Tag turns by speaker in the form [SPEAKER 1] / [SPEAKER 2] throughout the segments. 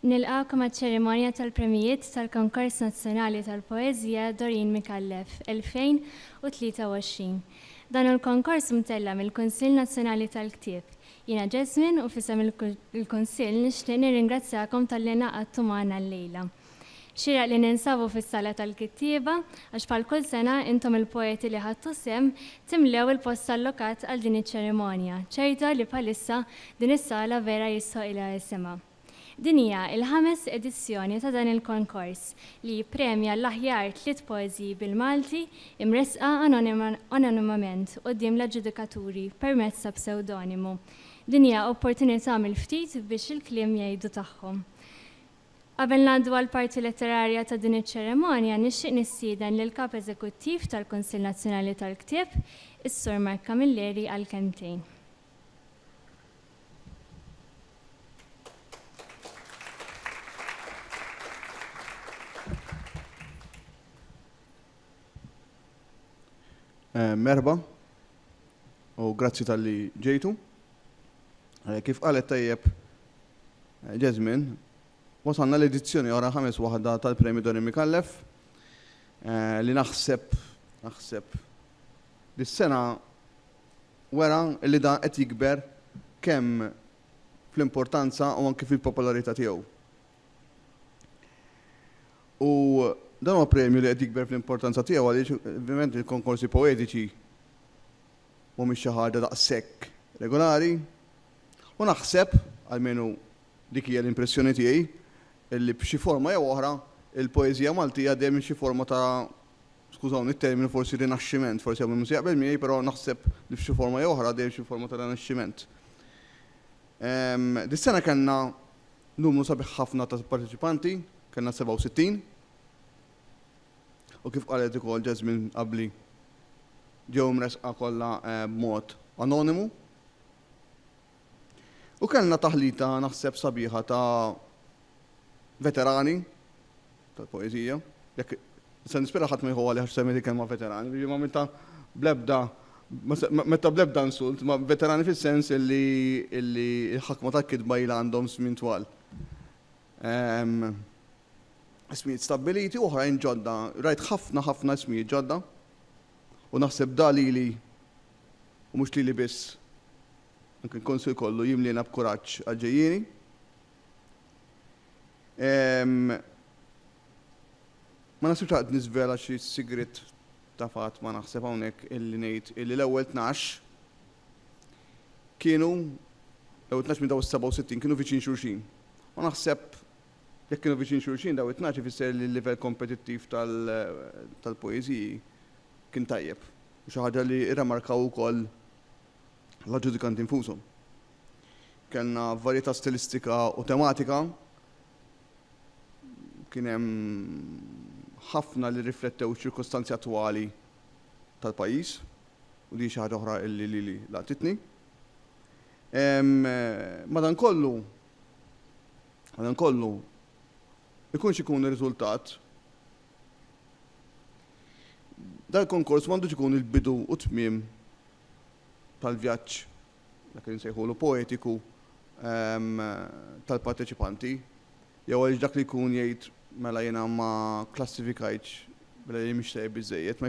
[SPEAKER 1] Nilqgħek maċ-ċerimonja tal-Premjijiet tal-Konkors Nazzjonali tal-Poeżija Doreen Micallef 2023. Dan hu l-konkors mtella' mill-Kunsill Nazzjonali tal-Ktieb. Jiena Jasmine u f'isem il-Kunsill nixtieq nirringrazzjakom talli ingħaqadtu magħna llejla. Xieraq li ninsabu fis-Sala tal-Kittieba għax bħal kull sena intom il-poeti li ħadtu sehem timlew il-post allokat għal din iċ-ċerimonja ċerta li bħalissa din is-sala vera jistħoqilha isimha. Din hija l-ħames edizzjoni ta' dan il-konkors li jippremja l-aħjar tliet poeżiji bil-Malti imressqa anonimament quddiem l-aġġudikaturi permezz ta' psewdonimu. Din hija opportunità mill-ftit biex il-kliem jgħidu tagħhom. Qabel ngħaddu għall-parti letterarja ta' din iċ-ċerimonja, nixtieq nistieden lill-Kap Eżekuttiv tal-Kunsill Nazzjonali tal-Ktieb, is-Sur Mark Camilleri għal kelmtejn. Merħba u grazzi talli ġejtu. Kif qalet tajjeb Jasmine, wasalna l-edizzjoni oħra ħames waħda tal-Premju Dorin Micallef li naħseb naħseb li s-sena wera li dan qed jikber kemm fl-importanza u anki fil-popolarità tiegħu. U dan huwa premju li qed jikber fl-importanza tiegħu għaliex ovvjament il-konkorsi poetiċi mhumiex xi ħaġa daqshekk regolari u naħseb, almenu dik hija l-impressjoni tiegħi, li b'xi forma jew oħra l-poeżija Maltija għaddejja minn xi forma ta' skużawni t-terminu forsi rinaxximent, forsi hawn min mhu se jaqbel miegħi, però naħseb li f'xi forma jew oħra għaddejja minn xi forma ta' rinaxximent. Dis-sena kellna numru sabiħ ħafna ta' parteċipanti, kellna 67. u kif qalet ukoll Jasmine qabli, ġew imressqa kollha b'mod anonimu. U kellna taħlita naħseb sabiħa ta' veterani tal-poeżija, jekk se nispira ħadd ma jieħu għalih għax semmejt il-kelma veterani, jiġifieri m'għamiltha bl-ebda, ma għamiltha bl-ebda insult, imma veterani fis-sens illi l-ħakma tal-kitba ilha għandhom żmien twal. Ismijiet stabbiliti, oħrajn ġodda. Rajt ħafna ħafna ismijiet ġodda u naħseb da lili u mhux lili biss, anke l-Kunsill kollu jimliena b'kuraġġ għall-ġejjieni. Ma naħsibx għad niżvela xi sigriet ta' fatt ma naħseb hawnhekk illi ngħid illi l-ewwel tnax kienu, daw it-tnax minn daw is-67 kienu viċin xulxin. U naħseb jekk kienu viċin xulxin daw it-tnax ifisser li l-livell kompetittiv tal-poeżiji kien tajjeb, u xi ħaġa li rremarkaw ukoll l-aġġudikanti nfushom. Kellna varjetà stilistika u tematika, kien hemm ħafna li rriflettew iċ-ċirkostanzi attwali tal-pajjiż. u din xi ħaġa oħra li lili laqtitni. Madankollu, madankollu, ikun x'ikun ir-riżultat, dal-konkors m'għandux ikun il-bidu u t-tmiem tal-vjaġġ dak li nsejħulu poetiku tal-parteċipanti, jew għaliex dak li jkun jgħid mela jiena ma kklassifikajtx mela li mhix tajjeb biżżejjed, ma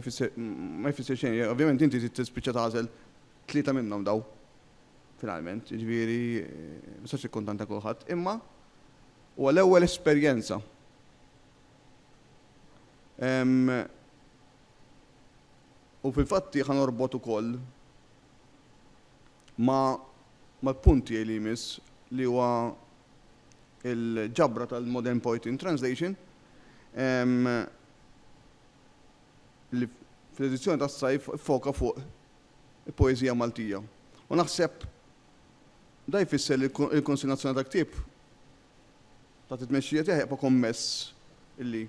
[SPEAKER 1] jfisser xejn. Ovvjament inti trid tispiċċa tagħżel tlieta minnhom dawn finalment, jiġifieri ma tistax tikkuntanta kulħadd, imma huwa l-ewwel esperjenza. U fil-fatt ħa norbot ukoll ma' mal-punt tiegħi li jmiss li huwa l-ġabra tal-Modern Poetry Translation li fl-edizzjoni tas-sajf iffoka fuq il-poeżija Maltija. U naħseb dan jfisser li l-Kunsill Nazzjonali tal-Ktieb taħt it-tmexxija tiegħi jibqa' kommess li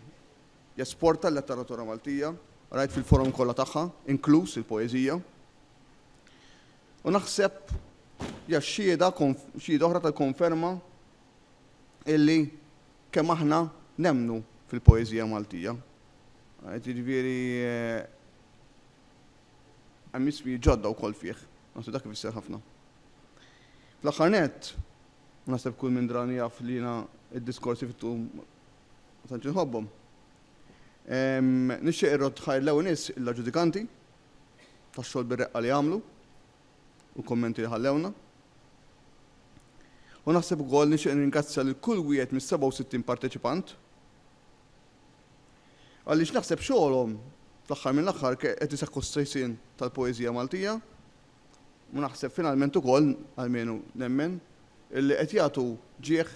[SPEAKER 1] Jesporta l-letteratura Maltija, rajt fil-forom kollha tagħha, inkluż il-poeżija. U naħseb hija xhieda xhieda oħra tal-konferma illi kemm aħna nemmnu fil-poeżija Maltija. Jiġifieri hemm isfidi ġodda wkoll fih. Naħseb dak ifisser ħafna. Fl-aħħar nett, u naħseb kull min drani jaf li jiena d-diskorsi fit-tul Ma tantx inħobbhom. Nixtieq irrodd ħajr l-ewwel nies l-aġġudikanti tax-xogħol bir-reqqa li għamlu u l-kummenti li ħallewna. U naħseb ukoll nixtieq nirringrazzja lil kull wieħed mis-67 parteċipant għaliex naħseb xogħolhom fl-aħħar mill-aħħar qed isaħħu s-sejsien tal-poeżija Maltija u naħseb finalment ukoll, almenu nemmen, illi qed jagħtu ġieħ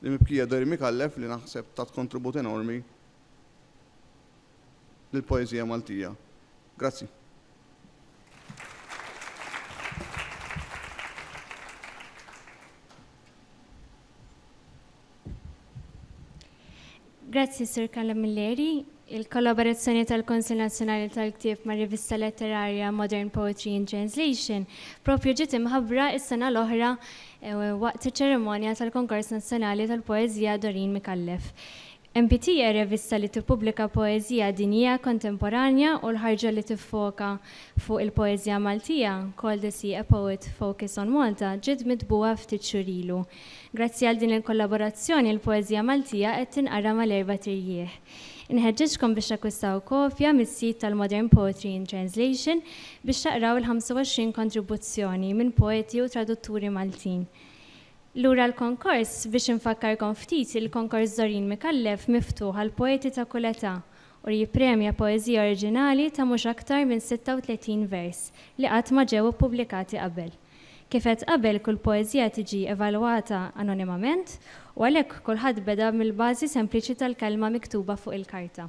[SPEAKER 1] lill-mibkija Doirin Micallef li naħseb tat kontribut enormi lill-poeżija Maltija. Grazzi. Grazzi, Sur Kalla Milleri. Il-kollaborazzjoni tal-Konsil Nazzjonali tal-Ktieb ma' rivista letterarja Modern Poetry in Translation propju ġiet imħabbra s-sena l-oħra eh, waqt iċ-ċerimonja tal-Konkors Nazzjonali tal-Poeżija Dorin Micallef. MPT hija rivista li tippubblika poeżija dinjija kontemporanja u l-ħarġa li tiffoka fuq il-poeżija Maltija, Call the Sea a Poet Focus on Malta, ġiet mitbugħa ftit xhur ilu. Grazzi għal din il-kollaborazzjoni l-poeżija Maltija qed tinqara mal-erbat irjieħ. Inħeġġeġkom biex takkwistaw kopja mis-sit tal-Modern Poetry in Translation biex taqraw il-25 kontribuzzjoni minn poeti u tradutturi Maltin. Lura l-konkors, biex infakkarkom ftit, il-Konkors Doreen Micallef miftuħ għall-poeti ta' kull età u jippremja poeżija oriġinali ta' mhux aktar minn 36 vers li qatt ma ġew ippubblikati qabel. Kif għedt qabel, kull poeżija tiġi evalwata anonimament u għalhekk kulħadd beda mill-bażi sempliċi tal-kelma miktuba fuq il-karta.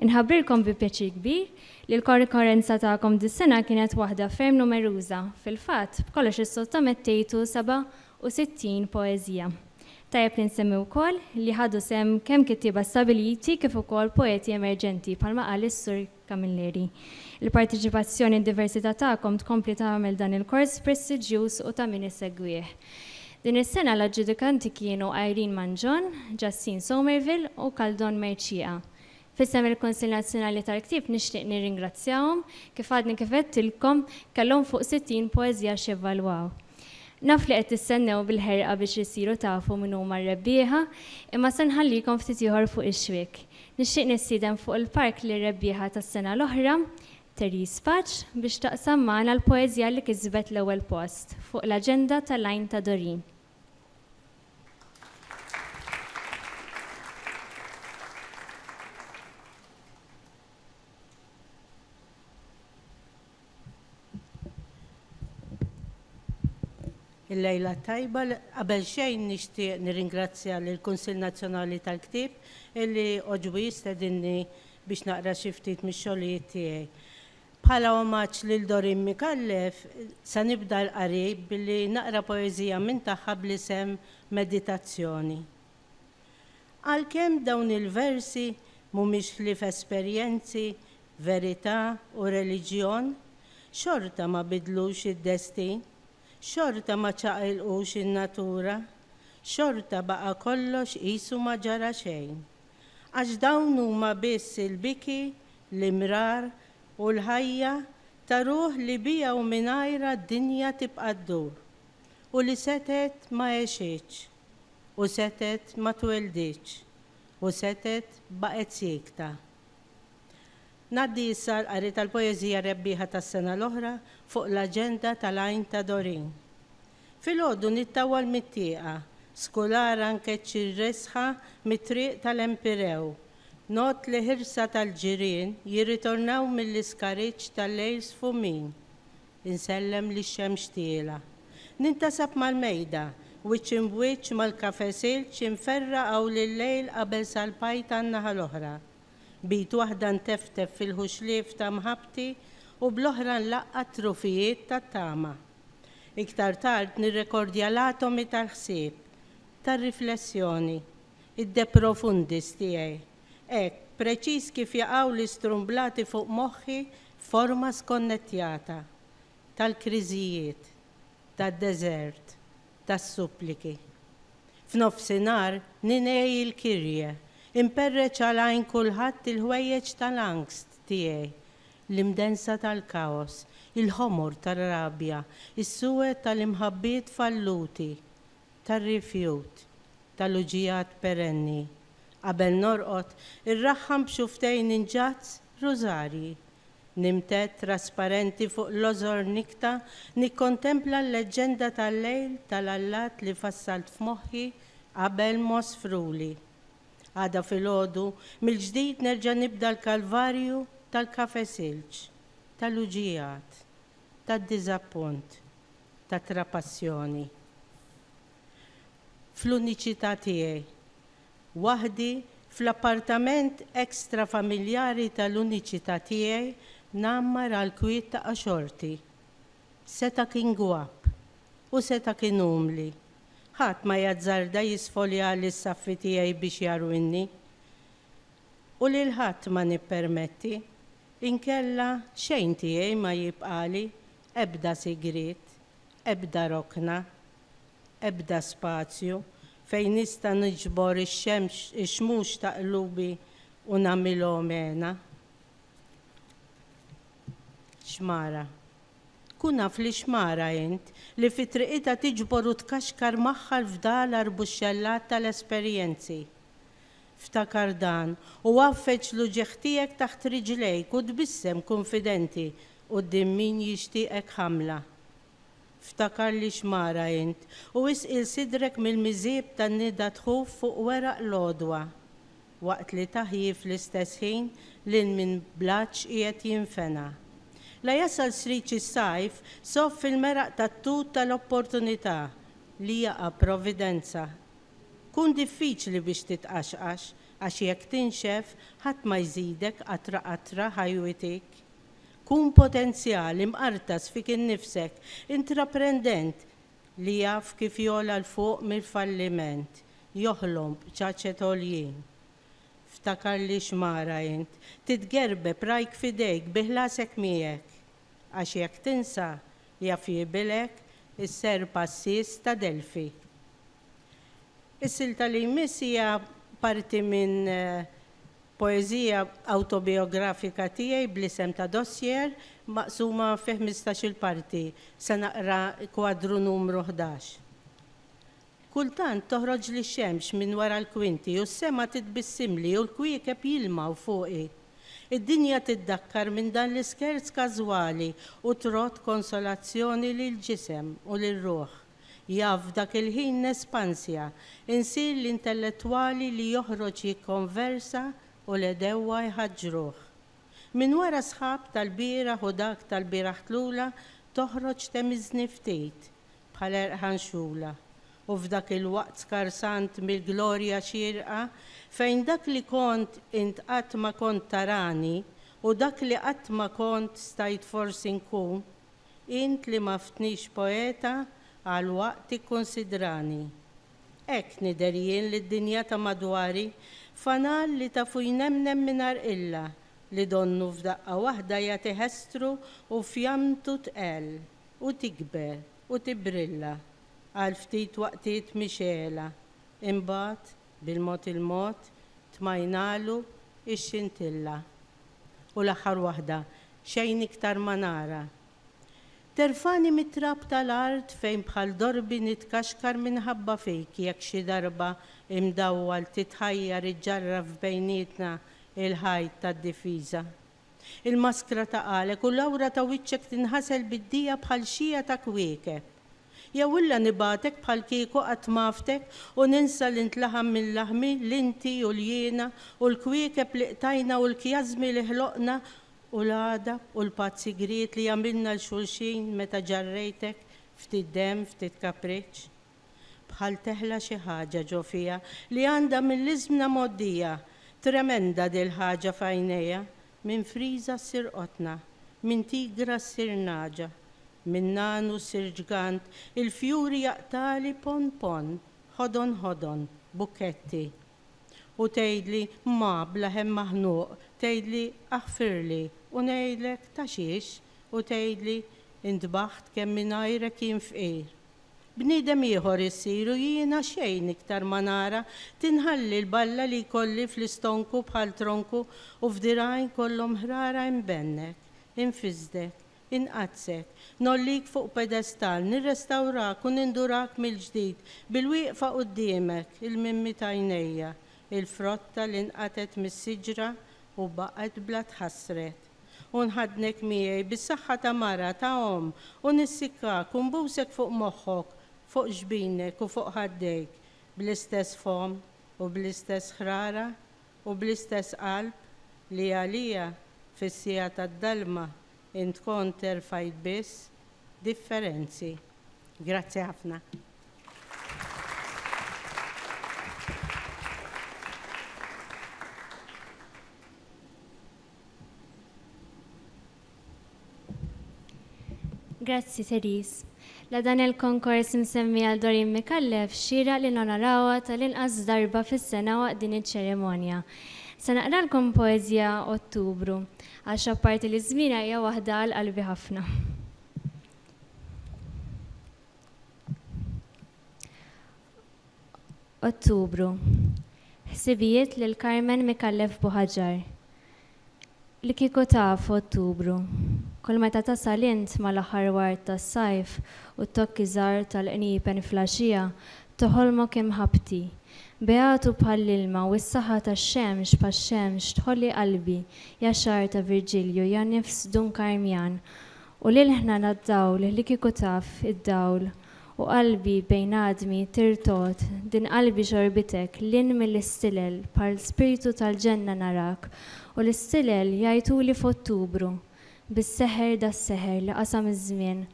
[SPEAKER 1] Inħabbrilkom bi pjaċir kbir li l-korrikorrenza tagħkom dis-sena kienet waħda ferm numeruża, fil-fatt, b'kollox issottomettejtu 67 poeżija. Tajjeb li nsemmi wkoll li ħadu sehem kemm kittieba stabbiliti kif ukoll poeti emerġenti, bħalma qal is-Sur. Camilleri. Il-parteċipazzjoni u d-diversità tagħkom tkompli tagħmel dan il-kors prestiġjuż u ta' min isegwih. Din is-sena l-aġġudikanti kienu Irene Mangion, Justin Somerville u Caldon Mercieca. F'isem il-Kunsill Nazzjonali tal-Ktieb nixtieq nirringrazzjahom, kif għadni kif għedtilkom, kellhom fuq 60 poeżija x'jevalwaw. Naf li qed tistennew bil-ħerqa biex issiru tafu min huma r-rebbieħa, imma se nħallikom ftit ieħor fuq ix-xwiek. Nixtieq nistieden fuq il-palk lir-rebbieħa tas-sena l-oħra, Therese Paċ, biex taqsam magħna l-poeżja li kisbet l-ewwel post fuq l-aġenda ta' L-Għajn ta' Dorin. Il-lejla tajba, qabel xejn nixtieq nirringrazzja lil Kunsill Nazzjonali tal-Ktieb illi oġbu jistedinni biex naqra xi ftit mix-xogħlijiet tiegħi. Bħala omaġġ lil Doreen Micallef, se nibda l-qari billi naqra poeżija minn tagħha bl-isem Meditazzjoni. Għalkemm dawn il-versi mhumiex ħlief esperjenzi, verità u reliġjon, xorta ma biddlux id-destin, xorta ma ċaqilqux in-natura, xorta baqa' kollox qisu ma ġara xejn. Għax dawn huma biss il-biki, l-imrar u l-ħajja ta' ruħ li biha u mingħajrha d-dinja tibqa' ddur u li setgħet ma għexitx. u setgħet ma twelidx u setgħet baqgħet siekta. Ngħaddi issa għall-qari tal-poeżija rebbieħa tas-sena l-oħra fuq l-aġenda tal-Għajn ta' Dorin. Filgħodu nittawwal mit-tieqa, skulara nkeċċi r-resħa mit-triq tal-Empirew, ngħodd li ħirsa tal-ġirien jirritornaw mill-iskariċċ tal-lejl sfumin. Insellem lix-xemx tielgħa. Nintasab mal-mejda, wiċċ imb'wiċċ mal-kafe silġ imferra' hawn lil-lejl qabel salpajt għan-naħa l-oħra. B'id waħda nteftef fil-ħuxlief ta' mħabbti u bl-oħra nlaqqa' t-trufijiet tat-tama. Iktar tard nirrekordja l-atomi tal-ħsieb, tar-riflessjoni, id-de profundis tiegħi. Hekk, preċiż kif jaqgħu l-istrumblati fuq moħħi f'forma skonnettjata, tal-kriżijiet, tad-deżert, tas-suppliki. F'nofsinhar ningħi l-Kyrie, imperreċ għal għajn kulħadd il-ħwejjeġ tal-angst tiegħi, l-imdennsa tal-kaos, il-ħomor tar-rabja, is-suwed tal-imħabbiet falluti, tar-rifjut tal-uġigħat perenni, qabel norqod irraħħam b'xufftejn inġazz rużarji. Nimtedd trasparenti fuq l-għożor nikta nikkontempla l-leġġenda tal-lejl tal-allat li fassalt f'moħħi qabel m'għożfruli. Għada filgħodu mill-ġdid nerġa' nibda l-kalvarju tal-kafe silġ, tal-uġigħat, tad-diżappunt. ta' trapassjoni. Fl-uniċità tiegħi, waħdi fl-appartament extra-familjari tal-uniċità tiegħi ngħammar għall-kwiet ta' qaxorti. Seta' kien gwapp u seta' kien umli. Ħadd ma jazzarda jisfoljali s-saffi tiegħi biex jarwinni. U lil ħadd ma nippermetti, inkella xejn tiegħi ma jibqali Ebda sigriet, ebda rokna, ebda spazju fejn nista' niġbor ix-xmux ta' qlubi u nagħmilhom hena. Xmara. Tkun naf li xmara int, li fi triqitha tiġbor u tkaxkar magħha l-fdal arbuxxellat tal-esperjenzi. Ftakar dan, u għaffeġ l-uġigħ tiegħek taħt riġlejk u tbissem kunfidenti quddiem min jixtieqek ħamla. Ftakar li x'mara int, u isqil sidrek mill-miżieb tan-nida tħuf fuq weraq l-għodwa, waqt li taħji fl-istess ħin lil min bl-għatx qiegħed jinfena. La jasal sriċ is-sajf, soff il-meraq tat-tut tal-opportunità li jaqa' providenza Tkun diffiċli biex titqaxqax, għax jekk tinxef, ħadd ma jżidek qatra qatra ħajwitik. Kun potenzjal, imqartas fik innifsek, intraprendent li jaf kif jogħla 'l fuq mill-falliment, joħlom b'ċaċet għoljin. Ftakar li xmara int, titgerbeb rajk f'idejk, bi ħlasek miegħek. Għax jekk tinsa, jaf jigħbilek is-serp għassies ta' Delfi. Is-silta li jmiss hija parti minn poeżija awtobijografika tiegħi bl-isem ta' Dossier, maqsuma fi ħmistax-il parti. Se naqra kwadru numru ħdax. Kultant toħroġli x-xemx minn wara l-kwinti u s-sema titbissimli u l-kwiekeb jilmgħu fuqi. Id-dinja tiddakkar minn dan l-iskerz każwali u trodd konsolazzjoni lill-ġisem u lir-ruħ. Jaf f'dak il-ħin nespansja, insir l-intellettwali li joħroġ jikkonversa u l-għedewwa jħaġġruh. Minn wara s-sħab tal-bieraħ u dak tal-bieraħtlula toħroġ temiżni ftit. bħal erħan xugħla, u f'dak il-waqt skarsant mill-glorja xierqa, fejn dak li kont int qatt ma kont tarani, u dak li qatt ma kont stajt forsi nkun, int li m'għaftnix poeta għal waqt tikkunsidrani. Hekk nidher jien lid-dinja ta' madwari, fanal li tafu jnemnem mingħajr qilla, li donnu f'daqqa waħda jagħtih estru u fjamtu tqell. u tikber u tibbrilla għal ftit waqtiet mixegħla, imbagħad, bil-mod il-mod, tmajnalu x-xintilla. U l-aħħar waħda, xejn iktar ma nara. Terfagħni mit-trab tal-art fejn bħal dorbi nitkaxkar minħabba fik jekk xi darba imdawwal titħajjar iġġarraf bejnietna l-ħajt tad-difiża. Il-maskra ta' għalek u l-awra ta' wiċċek tinħasel bid-dija bħal xija ta' kwiekeb. Jew illa nibgħatek bħalkieku qatt m'għaftek u ninsa li int laħam minn laħmi, li inti u l-jiena u l-kwiekeb li qtajna u l-kjażmi li ħloqna u l-għadab u l-patt sigriet li għamilna 'l xulxin meta ġarrejtek ftit demm, ftit kapriċċ. Bħal teħla xi ħaġa ġo fija li għandha mill-iżmna mgħoddija. Tremenda dil-ħaġa f'għajnejha. Minn friża ssir qotna. Minn tigra ssir nagħġa. Minn nagħnu ssir ġgant. Il-fjuri jaqtagħli ponn ponn. Ħodon ħodon. Bukketti. U tgħidli, Ma, bla hemm maħnuq, tgħidli, Aħfirli. U ngħidlek, Ta' xiex? U tgħidli, Intbaħt kemm mingħajrek jien fqir. Bniedem ieħor issir u jiena xejn iktar ma nara, tinħalli l-balla li jkolli fl-istonku bħal tronku u f'dirgħajn kollhom ħrara inbennek, infissdek, inqaddssek, ngħollik fuq pedestall, nirrestawrak u nindurak mill-ġdid bil-wieqfa quddiemek, il-mimmi t'għajnejja, il-frotta li nqatgħet mis-siġra u baqgħet bla tħassret. U nħaddnek miegħi bis-saħħa ta' mara, ta' omm, u nissikkak u nbusek fuq moħħok, fuq ġbinek u fuq ħaddejk, bl-istess fomm u bl-istess ħrara u bl-istess qalb li għalija, fis-siegħa tad-dalma, int kont erfajt biss differenzi. Grazzi ħafna. Grazzi Therese. La dan il-konkors imsemmi għal Doreen Micallef xieraq li nonorawha tal-inqas darba fis-sena waqt din iċ-ċerimonja. Se naqralkom poeżija Ottubru, għax apparti li żmienha hija waħda għal qalbi ħafna. Ottubru, Ħsibijiet lil Carmen Micallef Buhaġar Li kieku taf, Ottubru, kull meta tasal int mal-aħħar ward tas-sajf u t-tokki żgħar tal-qniepen fl-għaxija toħolmok imħabbti, beatu bħall-ilma u s-saħħa tax-xemx bħax-xemx tħolli qalbi ja xagħar ta' Virġilju ja nifs Dun Karmjan u lil ħna nad-dawl li kieku taf id-dawl U qalbi bejn għadmi tirtogħod, din qalbi xorbitek lil mill-istilel bħal spirtu tal-ġenna narak u l-istilel jgħajtuli f'Ottubru bis-seħer das-seħer li qasam iż-żmien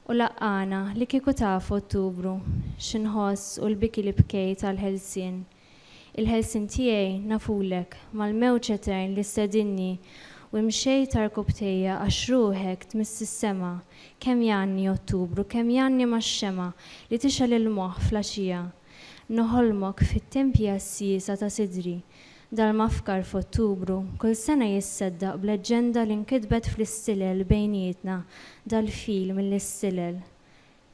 [SPEAKER 1] u laqqagħna li kieku taf Ottubru xi nħoss u l-biki li bkejt għall-ħelsien Il-ħelsien tiegħi nafulek, mal-mewġ etern li stedinni u imxejt għarkupptejja għax ruħek tmiss is-sema, kemm jgħanni Ottubru, kemm jgħanni max-xemgħa li tixgħel il-moħħ fl-għaxija. Noħolmok fit-tempji għas-siesa ta' sidri, dal-mafkar f'Ottubru kull sena jisseddaq b'leġġenda li nkitbet fl-istilel bejnietna dal-fil mill-istilel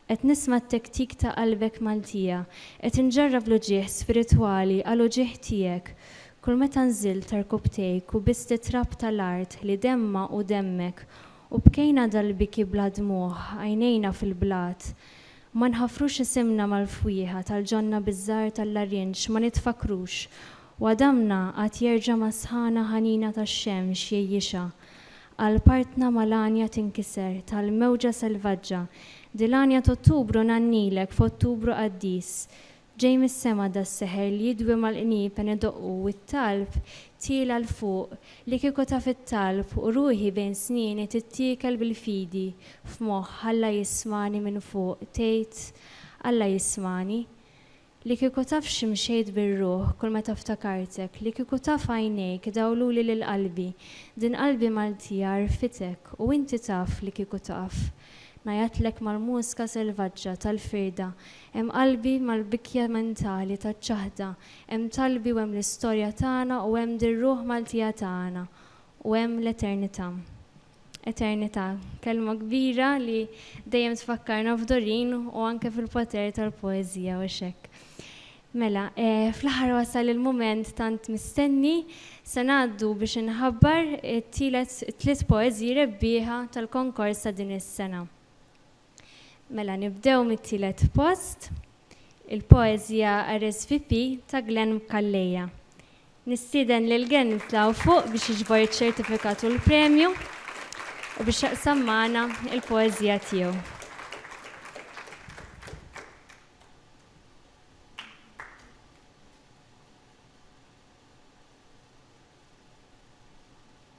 [SPEAKER 1] Qed nisma' t-tektik ta' qalbek Maltija. Qed inġarrab l-uġigħ spiritwali għal uġigħ tiegħek. Kull meta nżilt ta' rkubtejk u bist it-trab ta' l-art li demmha u demmek u bkejna dal-biki bla dmugħ, għajnejna fil-blat. Ma nħafrux isimna mal-fwieħa tal-ġonna biż-żahar tal-larinġ ma nitfakkrux u għadamna għad jerġa' mas-sħana ħanina tax-xemx jgħejjixha. Qalpartna ma' l-għanja tinkiser tal-mewġa selvaġġa Di l-għanja t'Ottubru ngħannilek f'Ottubru qaddis Ġej mis-sema da s-seħer li jidwi mal-qniep en idoqqu u t-talb tiela' 'l fuq Li kieku taf it-talb u ruħi bejn snieni tittiekel bil-fidi f'moħħ Alla jismagħni minn fuq tgħid Alla jismagħni Li kieku taf xi mxejt bir-ruħ kull meta ftakartek, li kieku taf għajnejk dawluli lil qalbi, din qalbi Maltija għarfitek u inti taf li kieku taf. Ngħajatlek mal-muska selvaġġa tal-firda, hemm qalbi mal-bikja mentali taċ-ċaħda, hemm talbi u hemm l-istorja tagħna u hemm dir-ruħ Maltija tagħna u hemm l-eternita'. Eternità, kelma kbira li dejjem tfakkarna f'Doreen u anke fil-poter tal-poeżija u x'hekk. Mela, fl-aħħar wasal il-mument tant mistenni, se ngħaddu biex inħabbar it-tielet tliet poeżiji rebbieħa tal-konkors ta' din is-sena. Mela nibdew mit-tielet post, il-poeżija RSVP ta' Glenn Calleja. Nistieden lil Glenn jitla' hawn fuq biex jiġbor iċ-ċertifikat u l-premju u biex jaqsam magħna l-poeżija tiegħu.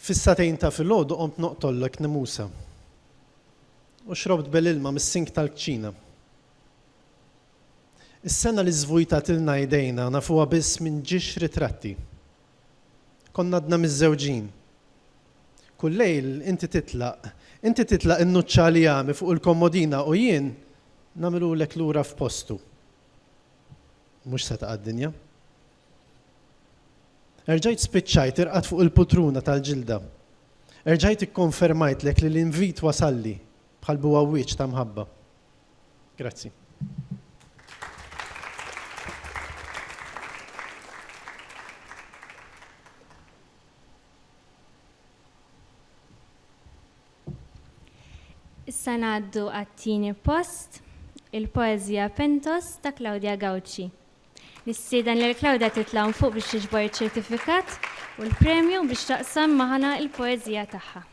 [SPEAKER 1] Fis-sagħtejn ta' filgħodu qomt noqtollek nimusa u xrobt bel ilma mis-sink tal-kċina. Is-sena li żvujtatilna idejna nafuha biss minn ġiex ritratti. Konna għadna miżżewġin. Kull lejl inti titlaq, inti titlaq innuċċa l-jami fuq il-kommodina u jien nagħmilulek lura f'postu. Mhux setgħa d-dinja. Erġajt spiċċajt irqad fuq il-putruna tal-ġilda. Erġajt ikkonfermajtlek li l-invit wasalli bħal buwawwieġ ta' mħabba. Grazzi. Issa ngħaddu għat-tieni post, il-poeżija Pentos ta' Claudia Gauci. Nistieden lil Claudia titla' hawn fuq biex tiġbor iċ-ċertifikat u l-premju biex taqsam magħna l-poeżija tagħha.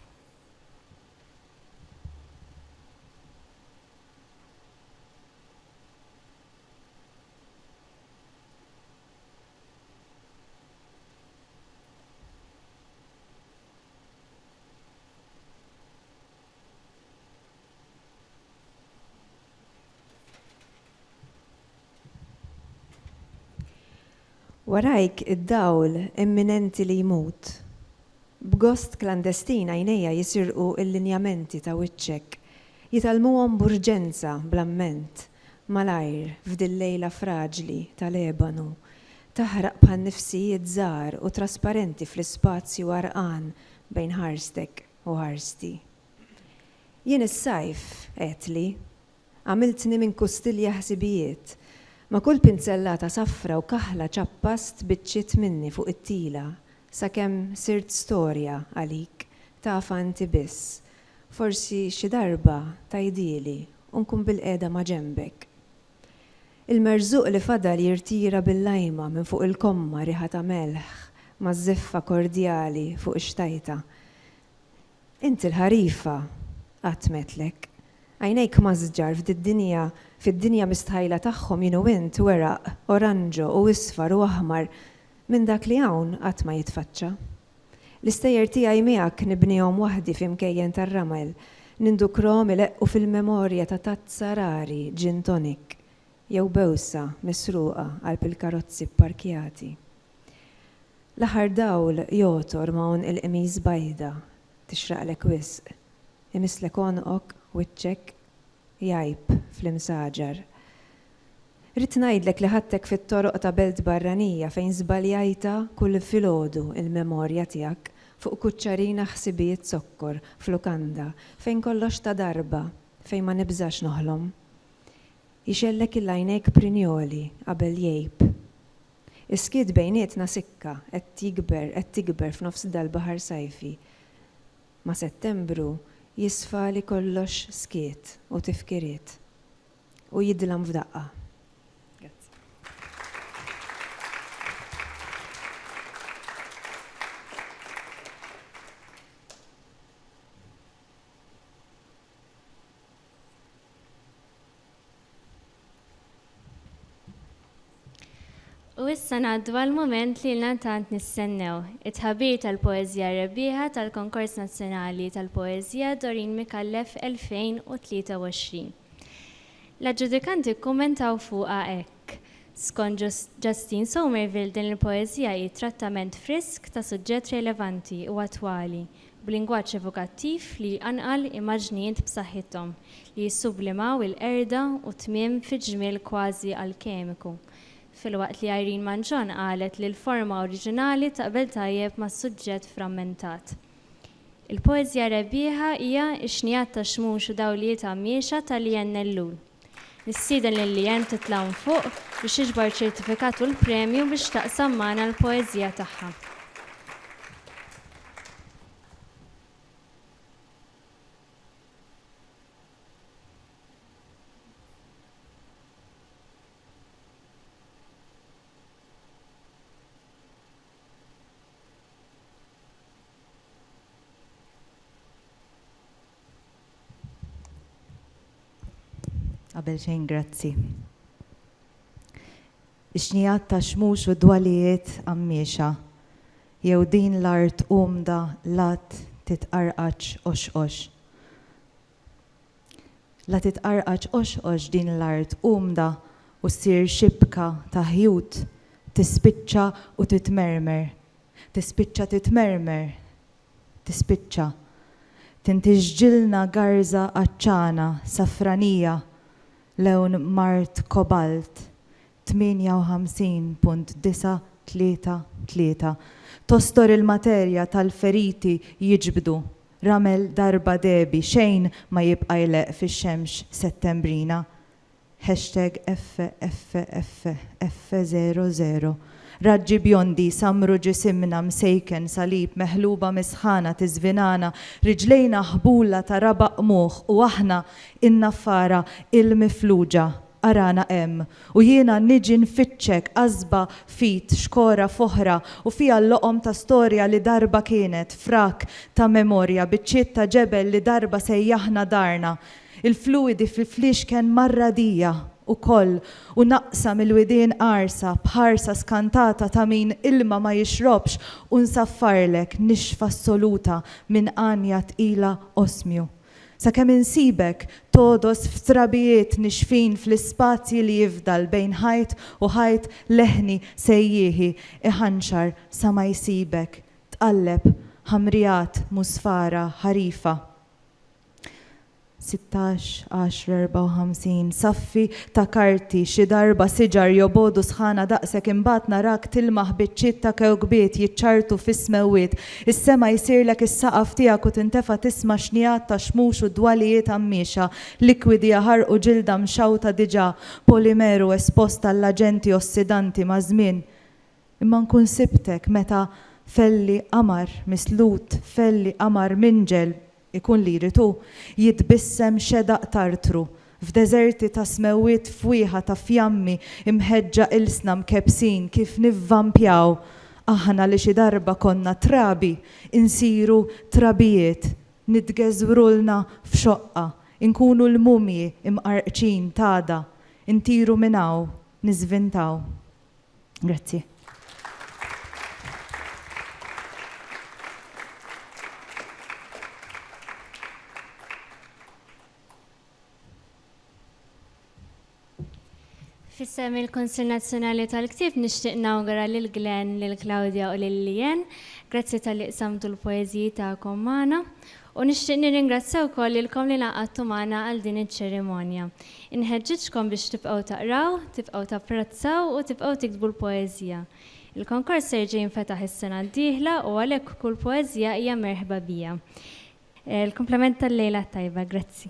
[SPEAKER 1] Warajk id-dawl imminenti li jmut. B'gost klandestin għajnejja jisirqu l-linjamenti ta' wiċċek, jitgħallmuhom b'urġenza bl-amment, malajr f'dil lejla fraġli ta' Lebanu, taħraq bħan-nifsijiet żgħar u trasparenti fl-ispazju għarqan bejn ħarstek. u ħarsti. Jien is-sajf, għedtli, għamiltni minn kustilja ħsibijiet. Ma' kull pinzellata safra u kaħla ċappast biċċiet minni fuq it-tila sakemm sirt storja għalik tafha inti biss. Forsi xi darba tgħidhieli u nkun bilqiegħda maġenbek. Il-merżuq li fadal jirtira bil-lajma minn fuq il-komma riħa ta' melħ ma' żiffa kordjali fuq ix-xtajta. Int il-ħarifa qatmetlek. Għajnejk mażġar f'did-dinja, fid-dinja mistħajla tagħhom jien u int weraq oranġo u isfar u aħmar minn dak li hawn qatt ma jitfaċċa. L-istejjer tiegħi miegħek nibnihom waħdi f'imkejjen tar-ramel, nindukrhom ileqqu fil-memorja ta' tazza rari gin tonic jew bewsa misruqa qalb il-karozzi pparkjati. L-aħħar dawl jogħtor ma' għonq il-qmis bajda tixraqlek wisq, imisslek għonqok, wiċċek, jgħib fl-imsaġar. Ridt ngħidlek li ħadtek fit-toroq ta' belt barranija fejn żbaljajtha kull filgħodu l-memorja tiegħek fuq kuċċarina ħsibijiet zokkor f'lukanda fejn kollox ta' darba, fejn ma nibżax noħlom. Jxellek il-għajnejk prinjoli qabel jgħib. Is-skiet bejnietna sikka qed jikber qed tikber f'nofs dal-baħar sajfi. Ma' Settembru jisfa li kollox skiet u tifkiriet. u jidlam f'daqqa. Grazzi. U issa ngħaddu għal mument li lna tant nistennew, it-tħabir tal-poeżija rebbieħa tal-Konkors Nazzjonali tal-Poeżija Doreen Micallef 2023. L-aġġudikanti kkummentaw fuqha hekk, Skont Justine Somerville din il-poeżija hi trattament frisk ta' suġġett relevanti u attwali, b'lingwaġġ evokattiv li jqanqal immaġnijiet b'saħħithom li jissublimaw il-qerda u t-tmiem fi ġmiel kważi alkemiku, filwaqt li Irene Manzon qalet li l-forma oriġinali taqbel tajjeb mas-suġġett frammentat. Il-poeżija rebbieħa hija x-xnigħat tax-xmux u dawlijiet għammiexa ta' Lian Ellul. Nistieden lil Lian titla' hawn fuq biex tiġbor iċ-ċertifikat u l-premju biex taqsam magħna l-poeżija tagħha. Qabel xejn grazzi. Ix-xnijat ta' xmux u dwalijiet qammiexa, jew din l-art umda l-għadd titqarqaċ qoxqox. La titqarqaġ qoxqox din l-art umda u ssir xibka ta' ħjut, tispiċċa u titmermer, tispiċċa titmermer, tispiċċa. Tintiġġilna garża għatxana, safranija, lewn mard kobalt, 58.933 Tostor il-materja tal-feriti jiġbdu ramel darba debi xejn ma jibqa' jleqq fix-xemx Settembrina hashtag FFFF00 Raġġi bjondi jsammru ġisimna msejken salib meħluba mis-sħana tiżvinana riġlejna ħbula ta' rabaq qmuħ u aħna in-naffara il-mifluġa Arana hemm, u jiena niġi nfittxek, għasba f'id, xkora f'oħra, u fiha l-loqom ta' storja li darba kienet, frak ta' memorja, biċċiet ta' ġebel li darba sejjaħna darna, il-fluwidi fil-fliexken mar-radija, ukoll, u naqsa mill-widien qarsa, b'ħarsa skantata ta' min ilma ma jixrobx, u nsaffarlek, nixfa assoluta, minn għanja tqila osmju. Sakemm insibek togħdos f'trabijiet nixfin fl-ispazji li jifdal bejn ħajt u ħajt leħni sejjieħi iħanxar sa ma jsibek tqalleb ħamrijat musfara ħarifa. 16 10 54 Saffi ta' karti xi darba siġar jobogħdu sħana daqsek imbagħad narak tilmaħ biċċiet ta' kewkbiet jiċċarrtu fis-smewwiet Is-sema jsirlek is-saqaf tiegħek u tintefa' tisma' xnigħat ta' xmux u dwalijiet għammiexa, likwidi jaħarqu u ġilda mxawta diġà, polimeru espost għall-aġenti ossidanti maż-żmien. Imma nkun sibtek meta f'għelli qamar mislut, f'għelli qamar minġel, Ikun li jrid hu jitbissem xedaq tartru f'deżerti ta' smewwiet fwieħa ta' fjammi imħeġġa ilsna mkebbsin kif nivvampjaw aħna li xi darba konna trabi insiru trabijiet nitgeżwrulna f'xoqqa inkunu l-mumji mqarrqċin t'għada ntiru minn hawn niżvintaw. Grazzi. Fissem il-Konsil Nazzjonali tal-Ktib nixtieq nawgura lil Glenn, lil Claudia u lil Lien. Grazzi tal-li qsamtu l-poeżiji tagħkom magħna. U nixtieq nirringrazzja wkoll lilkom li ngħaqadtu magħna għal din iċ-ċerimonja. Inħeġġiġkom biex tibqgħu taqraw, tibqgħu tapprezzaw u tibqgħu tiktbu l-poeżija. Il-konkors se jerġa' jinfetaħ is-sena d-dieħla u għalhekk kull poeżija hija merħba biha. Il-kumplament tal-lejla t-tajba. Grazzi.